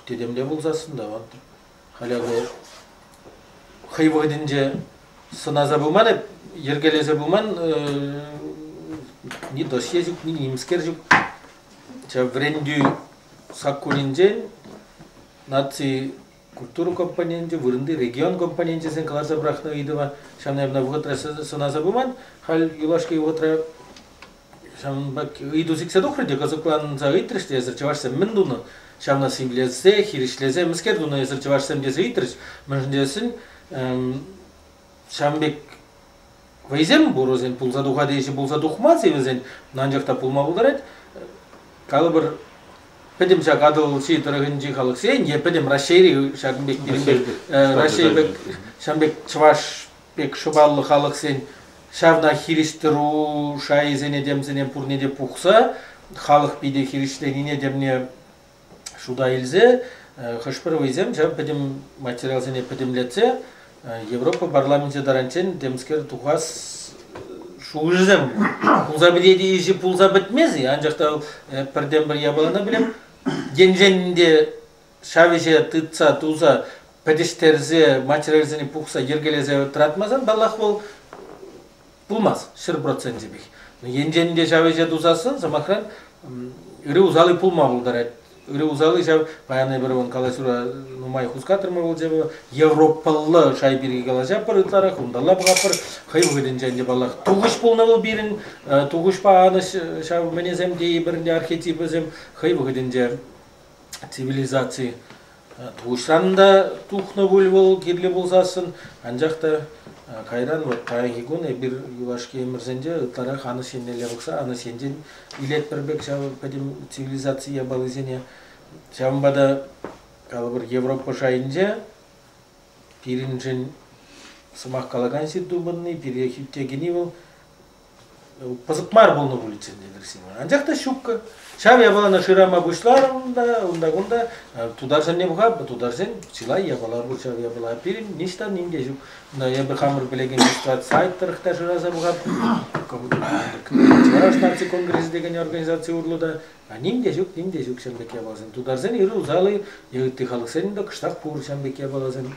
тетемле пулсассӑн та вот халь акӑ хӑй вӑхӑтӗнче сӑнаса пыман эп йӗркелесе пыман ни досье ҫук ни нимскер ҫук ҫав вӗрентӳ саккунӗнчен наци культура компоненчӗ вырӑнти регион компоненчӗсен кӑларса пӑрахнӑ ыйтӑва ҫав наверное вӑхӑтра сӑнаса пыман халь юлашки вӑхӑтра Ҫавӑнпа ыйту сиксе тухрӗ те кӑсӑкланса ыйтрӗҫ те эсир чӑвашсем мӗн тунӑ? Ҫавна симлесе, хирӗҫлесе мӗскер тунӑ эсир чӑвашсем тесе ыйтрӗҫ. Мӗншӗн тесен ҫавӑн пек вӑйсем пур вӗсен пулса тухать ҫи пулса тухмасть-и вӗсен, анчах та пулма пултарать. Калӑпӑр, пӗтӗм ҫак Атӑлҫи тӑрӑхӗнчи халӑхсен е пӗтӗм Раҫҫейри ҫакӑн пек пирӗн пек Раҫҫей пек ҫавӑн пек чӑваш пек шӑпаллӑ халӑхсен ҫавна хирӗҫтыру шайӗсене темсене пурне те пухса халӑх питӗ хирӗҫленине темне шута илсе хӑш-пӗр вӑйсем ҫав пӗтӗм материалсене пӗтӗмлетсе Европа парламенчӗ таранччен темскер тухас шухӑшӗсем пулса пӗтет иши пулса пӗтмест-и анчах та пӗртен-пӗр япалана пӗлем енчен те ҫав ӗҫе тытса туса пӗтӗҫтерсе материалсене пухса йӗркелесе тӑратмасан паллах вӑл пулмасть ҫӗр процентӗпех. Енчен те ҫав ӗҫе тусассӑн, сӑмахран, ырӑ усали пулма пултарать. Ырӑ усали ҫав, паян эпир вӑл калаҫура нумай хускатрӑмӑр вӑл европӑллӑ шай пирки калаҫатпӑр ытларах, унталла пӑхатпӑр. Хӑй вӑхӑтӗнче ӗнтӗ паллах тухӑҫ пулнӑ вӑл пирӗн, тухӑҫпа анӑҫ ҫав мӗнесем тейӗпӗр ӗнтӗ архетипӗсем хӑй вӑхӑтӗнче цивилизаци пуҫран та тухнӑ пуль вӑл кирлӗ пулсассӑн, анчах та кайран вот паянхи кун эпир юлашки ӗмӗрсенче ытларах анӑҫ еннелле пӑхса анӑҫ енчен илетпӗр пек ҫав пӗтӗм цивилизаци япалисене. Ҫавӑнпа та калӑпӑр Европа шайӗнче пирӗншӗн сӑмах калакан сирту пынни, пире хӳтте кӗни вӑл пысӑк мар пулнӑ пуличчен те Красива. Анчах та щупка. Ҫав япалана шырама пуҫларӑм та унта-кунта тутарсенне пуха, тутарсен чылай япала пур ҫав япала. Пирӗн ниҫта ним те ҫук. Эпӗ хамӑр пӗлекен сайт тӑрӑх та шыраса пухатпӑр. Чӑваш наци конгресӗ текен организаци урлӑ та ним те ҫук, ним те ҫук ҫam пек япаласем. Тутарсен ыр усали, ытти халӑхсен та кӑштах пур ҫам пек япаласем.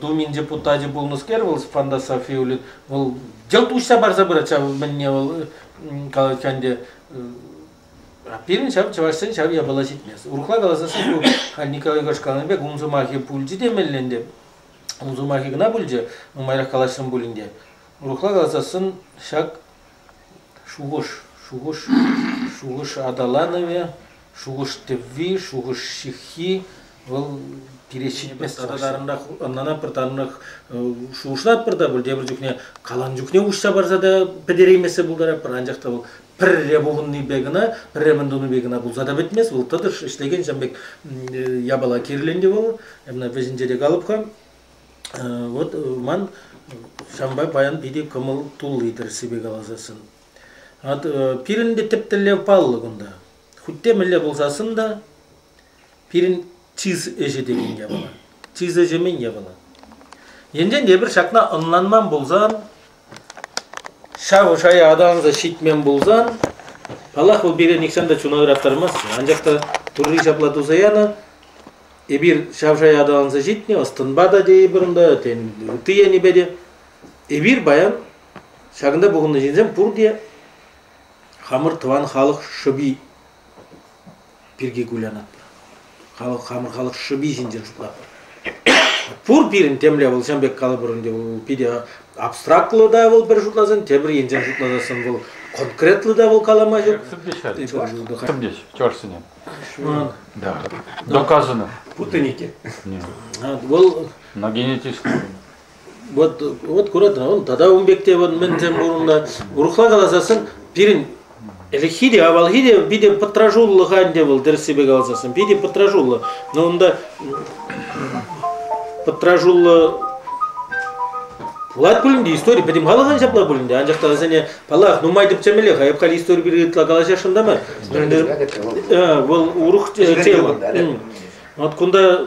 Думин депутачӗ пулнӑскер вӑл фантасофи улю вӑл йӑлт уҫса парса пырать ҫав мӗнне вӑл калать ӗнтӗ а пирӗн ҫав чӑвашсен ҫав япала ҫитмест. Урӑхла каласан ку халь Николай Егорович каланӑ пек ун сӑмахӗ пулчӗ темелле ӗнтӗ. Ун сӑмахӗ кӑна пулчӗ, нумайрах калаҫрӑм пулин те. Урӑхла каласан ҫак Шухӑш, шухӑш, шухӑш аталанӑвӗ, шухӑш-тӗвви, шухӑш ҫыххи вӑл пире ҫитмест. Тата тарӑнрах, ӑнлана пӗр тарӑнрах шухӑшлатпӑр та пӗр тепӗр чухне калан чухне уҫса парса та пӗтереймессе пултарать, пӗр анчах та вӑл пӗрре пухӑннипе кӑна, пӗрре мӗн тунипе кӑна пулса та пӗтмест. Вӑл тӑтӑш ӗҫлекен ҫын пек япала кирлӗ ӗнтӗ вӑл. Ӗмӗр вӗҫӗнче те калӑп-ха. Вот ман ҫавӑнпа паян питӗ кӑмӑл тулли тӗрӗссипе каласассӑн. От пирӗн те тӗп тӗллев паллӑ кунта. Хуть те мӗнле пулсассӑн та пирӗн чыс ӗҫӗ текен япала. Чыс ӗҫӗ мӗн япала? Енчен те эпир ҫакна ӑнланман пулсан, Ҫав шая аталанса ҫитмен пулсан, паллах, вӑл пире нихҫан та чуна ыраттармасть. Анчах та Турри ҫапла туса янӑ, эпир ҫав шая аталанса ҫитнӗ, ӑс-тӑнпа та тейӗпӗр унта, тен, ытти енӗпе те. Эпир паян ҫакӑнта пухӑннӑ ҫынсем пурте хамӑр тӑван халӑх шӑпи. пирки кулянатпӑр. Халӑх, хамӑр халӑх шӑпи ҫинчен шутлатпӑр. Пур пирӗн темле вӑл ҫан пек калӑпӑр ӗнтӗ вӑл питӗ абстрактлӑ та вӑл пӗр шутласан, тепӗр енчен шутласассӑн вӑл конкретлӑ та вӑл калама ҫук. Сӗртеҫ Сӗртеҫ чӑвашсене. Да. Доказано. Путанике. Вӑл. На генетист. Вот, вот куратӑн, он тата ун пек те вот мӗнсем пурӑннӑ. Урӑхла каласассӑн пирӗн ӗлӗкхи те, авалхи те питӗ пӑтраҫуллӑха ӗнтӗ вӑл тӗрӗссипе каласассӑн, питӗ пӑтраҫуллӑ. Но унта пӑтраҫуллӑ пулать пулин те истори пӗтӗм халӑхӑн ҫапла пулин те анчах та вӗсене паллах нумай тӗпчемеллех айӑпкал истори пирки ытла калаҫасшӑн та мар вӑл урӑх тема вот кунта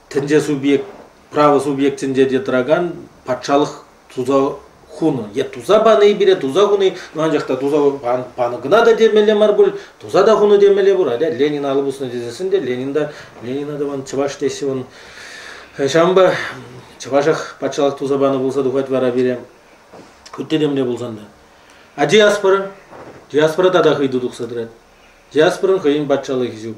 тӗнче субъект, право субъектӗнче те тӑракан патшалӑх туса хунӑ. Е туса пани пире туса хуни, ну анчах та туса панӑ кӑна та темелле мар пуль, туса та хуну темелле пуль. Аля Ленин алӑ пуснӑ тесессӗн те Ленинда, Ленина тӑван чӑваш теҫҫӗ вӑн. Ҫавӑнпа чӑвашах патшалӑх туса панӑ пулса тухать вара пире. Ытти темле пулсан та. А диаспора? Диаспора тата хӑйту тухса тӑрать. Диаспорӑн хӑйӗн патшалӑхӗ ҫук.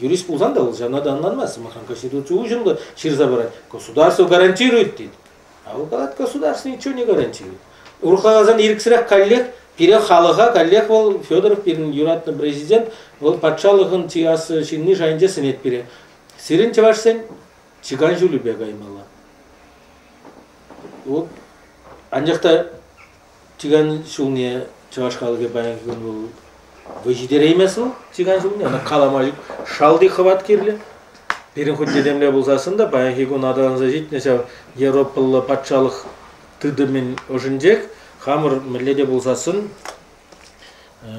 юрист пулсан та вӑл ҫавна та ӑнланмасть сӑмахран конституци уҫӑмлӑ ҫырса парать государство гарантирует тет а вӑл калать государство ничего не гарантирует урхаласан ирӗксӗрех каллех пире халӑха каллех вӑл федоров пирӗн юратнӑ президент вӑл патшалӑхӑн чиясӑ ҫынни шайӗнче сӗнет пире сирӗн чӑвашсен чикан ҫулӗпе каймалла вот анчах та Тиган ҫулне чӑваш халӑхӗ паянхи кун вӑл вӑй ҫитереймест вӑл тиган ҫулне. Ӑна калама ҫук шалти хӑват кирлӗ. Пирӗн хуть этемле пулсассӑн та паянхи кун аталанса ҫитнӗ ҫав Европӑллӑ патшалӑх тытӑмӗн ӑшӗнчех хамӑр мӗнле те пулсассӑн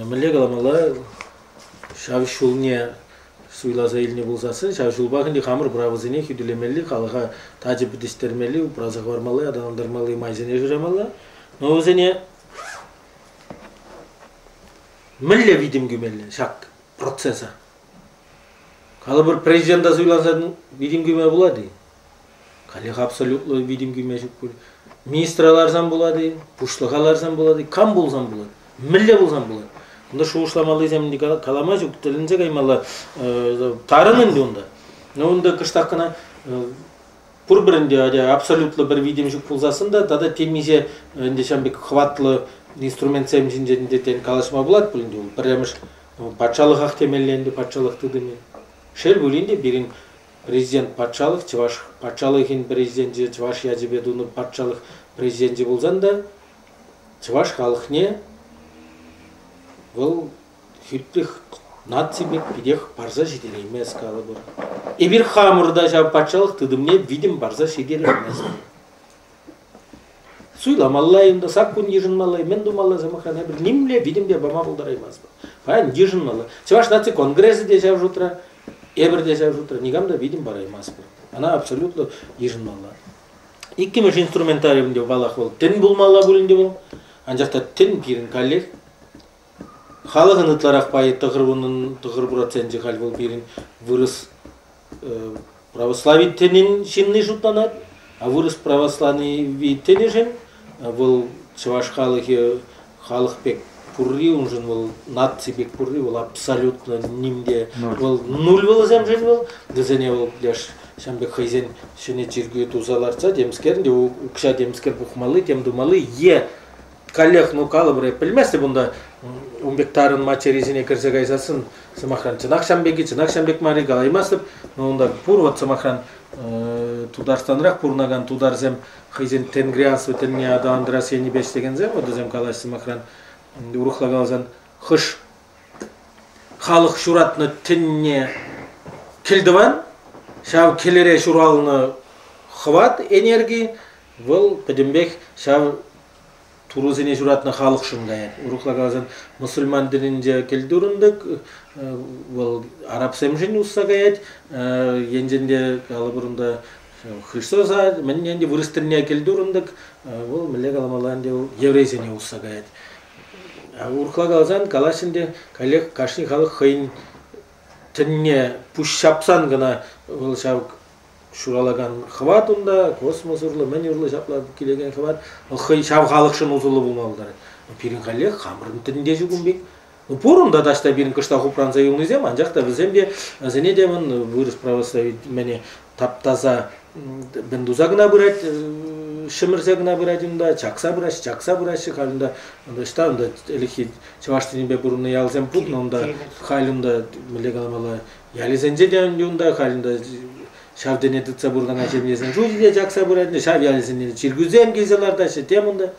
мӗнле каламалла ҫав ҫулне Суйласа илнӗ пулсассӑн ҫав ҫулпах ӗнтӗ хамӑр правӑсене хӳтӗлемелли, халӑха тачӑ пӗтӗҫтермелли, упраса хӑвармалли, аталантармалли майсене шырамалла. Но вӗсене мӗнле витӗм кӳмелле ҫак процеса? Калӑпӑр, президента суйласа витӗм кӳме пулать-и? Халех абсолютлӑ витӗм кӳме ҫук пуль. Министра ларсан пулать-и, пуҫлӑха ларсан пулать-и, кам пулсан пулать, мӗнле пулсан пулать. Кунта шухӑшламаллисем калама ҫук, тӗлӗнсе каймалла. Тарӑн ӗнтӗ унта. Но унта кӑштах кӑна пурпӗрӗнте ача абсолютлӑ пӗр витӗм ҫук пулсассӑн та тата темиҫе ӗнтӗ ҫав пек хӑватлӑ инструментсем ҫинчен те калаҫма пулать пулин те пӗрремӗш патшалӑхах темелле ӗнтӗ патшалӑх тытӑмӗ. Шел пулин те пирӗн Президент патшалӑх чӑваш патшалӑхӗн президенчӗ чӑваш ячӗпе тунӑ патшалӑх президенчӗ пулсан та чӑваш халӑхне вӑл хӳттех наци пек питех парса ҫитереймест калӑпӑр. Эпир хамӑр та ҫав патшалӑх тытӑмне витӗм парса ҫитереймест. Суйламалла, унта саккун йышӑнмалла, мӗн тумалла, сӑмахран, эпир нимле витӗмпе пама пултараймастпӑр. Паян йышӑнмалла. Чӑваш наци конгресӗ те ҫав шутра, эпир те ҫав шутра никам та витӗм параймастпӑр. Ӑна абсолютлӑ йышӑнмалла. Иккӗмӗш инструментариум те, паллах, вӑл тӗн пулмалла пулин те пулин, анчах та тӗн пирӗн каллех Халӑхӑн ытларах пайӗ тӑхӑр проценчӗ халь вӑл пирӗн вырӑс православительнин ҫынни шутланать, а вырӑс православительнӗшӗн вӑл чӑваш халӑхӗ халӑх пек пурри, уншӑн вӑл наци пек пурри, вӑл абсолютно нимте вӑл нуль вӑлӑсемшӗн вӑл, вӗсене вӑл пляж ҫавӑн пек хӑйсен ҫӗнӗ чиркӳ туса лартса темскер укҫа темскер пухмалли, тем тумалли е каллех ну калӑпӑр пӗлмест унта ун пек тарӑн материсене кӗрсе кайсассӑн сӑмахран чӑнах ҫам пек-и чӑнах ҫам пек мар-и калаймастӑп но унта пур вот сӑмахран тутарстанрах пурӑнакан тутарсем хӑйсен тенгрианство тӗнне аталантарас енӗпе ӗҫлекенсем вот вӗсем калаҫҫӗ сӑмахран урӑхла каласан хӑш халӑх ҫуратнӑ тӗнне кӗлтӑван ҫав кӗлӗре ҫуралнӑ хӑват энерги Вӑл пӗтӗмпех ҫав турӑсене ҫуратнӑ халӑхшӑн каять. Урӑхла каласан, мусульман тӗнӗнче кӗлтурӑн тӑк вӑл арабсемшӗн усса каять. Енчен те калӑпӑр унта Христоса мӗн ӗнтӗ вырӑс тӗнне кӗлтурӑн тӑк вӑл мӗнле каламалла ӗнтӗ вӑл еврейсене усса каять. Урӑхла каласан калаҫ ӗнтӗ каллех кашни халӑх хӑйӗн тӗнне пуҫ ҫапсан кӑна вӑл ҫав ҫуралакан хӑват унта, космос урлӑ, мӗн урлӑ ҫапла килекен хӑват, вӑл хӑй ҫав халӑхшӑн усӑллӑ пулма пултарать. пирӗн каллех хамӑрӑн тӗнне ҫук ун пек. Ну пур унта таҫта пирӗн кӑштах упранса юлнисем, анчах та вӗсем те, вӗсене те вӑн вырӑс православи таптаса мӗн туса кӑна пырать, ҫӗмӗрсе кӑна пырать унта, чакса пыраҫҫӗ, чакса пыраҫҫӗ халь унта. Ӑҫта унта ӗлӗкхи чӑваш тӗнӗпе пурӑннӑ ялсем путнӑ унта, халь унта мӗнле каламалла, Ялӗсенче те унта халь ҫав тӗне тытса пурӑнакан ҫемьесен шучӗ те чакса пыраҫҫӗ. Ҫав ялӗсене чиркӳсем килсе лартаҫҫӗ. Тем унта.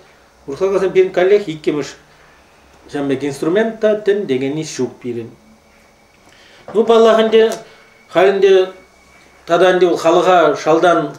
Урхалкасем пирӗн каллех иккӗмӗш ҫав пек инструмент та тӗн тегени ҫук пирӗн. Ну, паллах, ӗнтӗ халь ӗнтӗ тата ӗнтӗ халӑха шалтан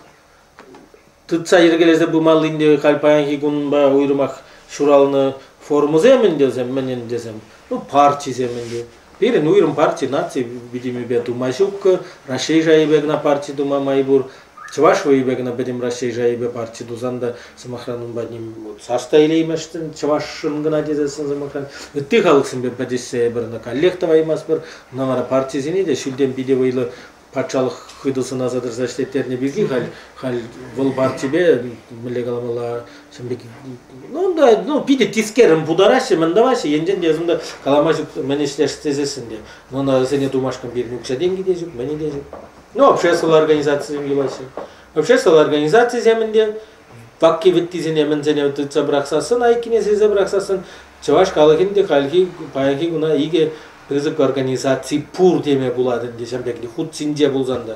Тытса йӗркелесе пымаллин те халь паянхи кунпа уйрӑмах ҫуралнӑ формӑсем ӗнтӗсем мӗн ӗнтӗсем, ну партисем ӗнтӗ. Пирӗн уйрӑм парти наци витӗмӗпе тума ҫук, Раҫҫей шайӗпе кӑна парти тума май пур. Чӑваш вӑйӗпе кӑна пӗтӗм Раҫҫей шайӗпе парти тусан та, сӑмахран, унпа ним вот сас та илейместӗн чӑвашшӑн кӑна тесессӗн, сӑмахран, ытти халӑхсемпе пӗтӗшсе эпир ӑна каллех тӑваймастпӑр. Ӑна вара партисене те ҫӳлтен питӗ вӑйлӑ патшалӑх хытӑ сӑнаса тӑрса ӗҫлеттернӗ пирки халь халь вӑл партипе мӗнле каламалла ҫын пек ну да ну питӗ тискерӗн путараҫҫӗ мӗн тӑваҫҫӗ енчен те ӑсунта калама ҫук мӗн ӗҫлес тесессӗн те ӑна вӗсене тумашкӑн пирӗн укҫа-тенкӗ те ҫук мӗнӗ те ҫук ну обществӑлла организацисем юлаҫҫӗ обществӑлла организацисем ӗнтӗ пакки-вӗттисене мӗнсене тытса пӑрахсассӑн, айккине сирсе пӑрахсассӑн, чӑваш халӑхӗн те хальхи паянхи куна икӗ пысӑк организаци пур теме пулать ӗнтӗ ҫав пекли хут синче пулсан та.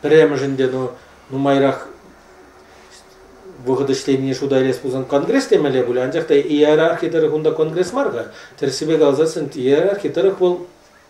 Пӗрремӗшӗн те ну нумайрах вӑхӑт ӗҫленине шута илес пулсан конгресс темелле пулӗ, анчах та иерархи тӑрӑх унта конгресс мар-ха. Тӗрӗссипе каласассӑн иерархи тӑрӑх вӑл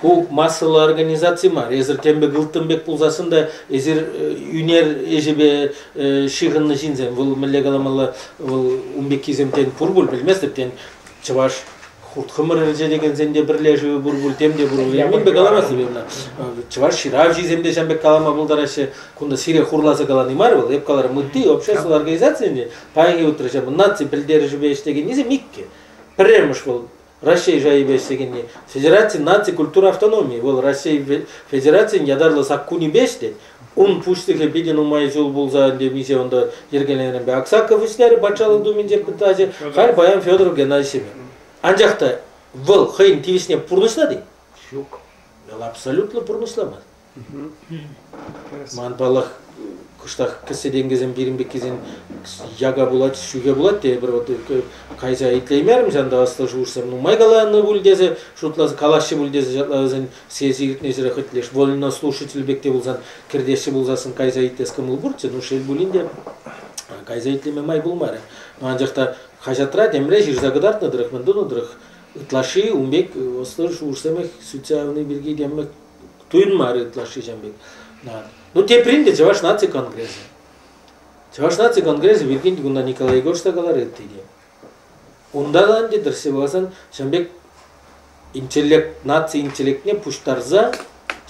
Ку массӑллӑ организаци мар. Эсир тем пек ылтӑн пек пулсассӑн та эсир ӳнер ӗҫӗпе ҫыхӑннӑ ҫынсем. Вӑл мӗнле каламалла, вӑл ун пеккисем тен пур пуль пӗлместӗп. Тен чӑваш хурт-хӑмӑр ӗрчетекенсен те пӗрлешӗвӗ пур пуль, тем те пур пуль. Мӗн пек калама силеннӗ? Чӑваш ҫыравҫисем те ҫав пек калама пултараҫҫӗ. Кунта сире хурласа калани мар вӑл. Эп каларӑм, ытти общество организацийӗн те паянхи утрӑча наци пӗлтерӗшӗпе ӗҫлекеннисем иккӗ. Пӗрремӗш вӑл Раҫҫей шайӗпе ӗҫлекенни Федераци наци культура автономийӗ, вӑл Раҫҫей Федерацийӗн ятарлӑ саккунӗпе ӗҫлет. Ун пуҫлӑхӗ питӗ нумай ҫул пулса темиҫе унта йӗркеленӗренпе Аксаков вӗҫлерӗ Патшалӑх Думинче пытаҫӗ, халь паян Федор Геннадьевичеве. Анчах та вӑл хӑйӗн тивӗҫне пурнӑҫлать-и? Ҫук. Вӑл абсолютлӑ пурнӑҫламасть. Ман паллах, кӑштах кӗссе-тенкӗсем пирӗн пеккисен яка пулать, ҫӳхе пулать тейӗпӗр. Вот кайса итлеймерӗм ҫанта ӑслӑ шухӑшсем. Нумай каланӑ пуль тесе, шутлас, калаҫҫӗ пуль тесе ҫапла вӗсен сesi иртнӗҫӗре хӑть леш. Вольно слушатель пек те пулсан, кӗртеҫҫӗ пулсассӑн кайса итлес кӑмӑл пурччӗ. Ну, шел пулин те, кайса итлеме май пулмарӗ. Анчах та хаҫатра темле ҫырса кӑтартнӑ тӑрӑх, мӗн тунӑ тӑрӑх, ытлашши ун пек ӑслӑ шухӑшсемех сӳтсе явни пирки темле Туйӑнмарӗ ытлашши ҫам пек. Ну, теприн те Чӑваш наци конгресӗ. Чӑваш наци конгресӗ пирки кунта Николай Егорович та каларӗ ытти те. Унта та ӗнтӗ тӗрсе пуласан ҫам пек интеллект, наци интеллектне пуҫтарса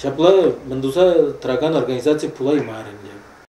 ҫапла мӗн туса тӑракан организаци пулаймарӗ ӗнтӗ.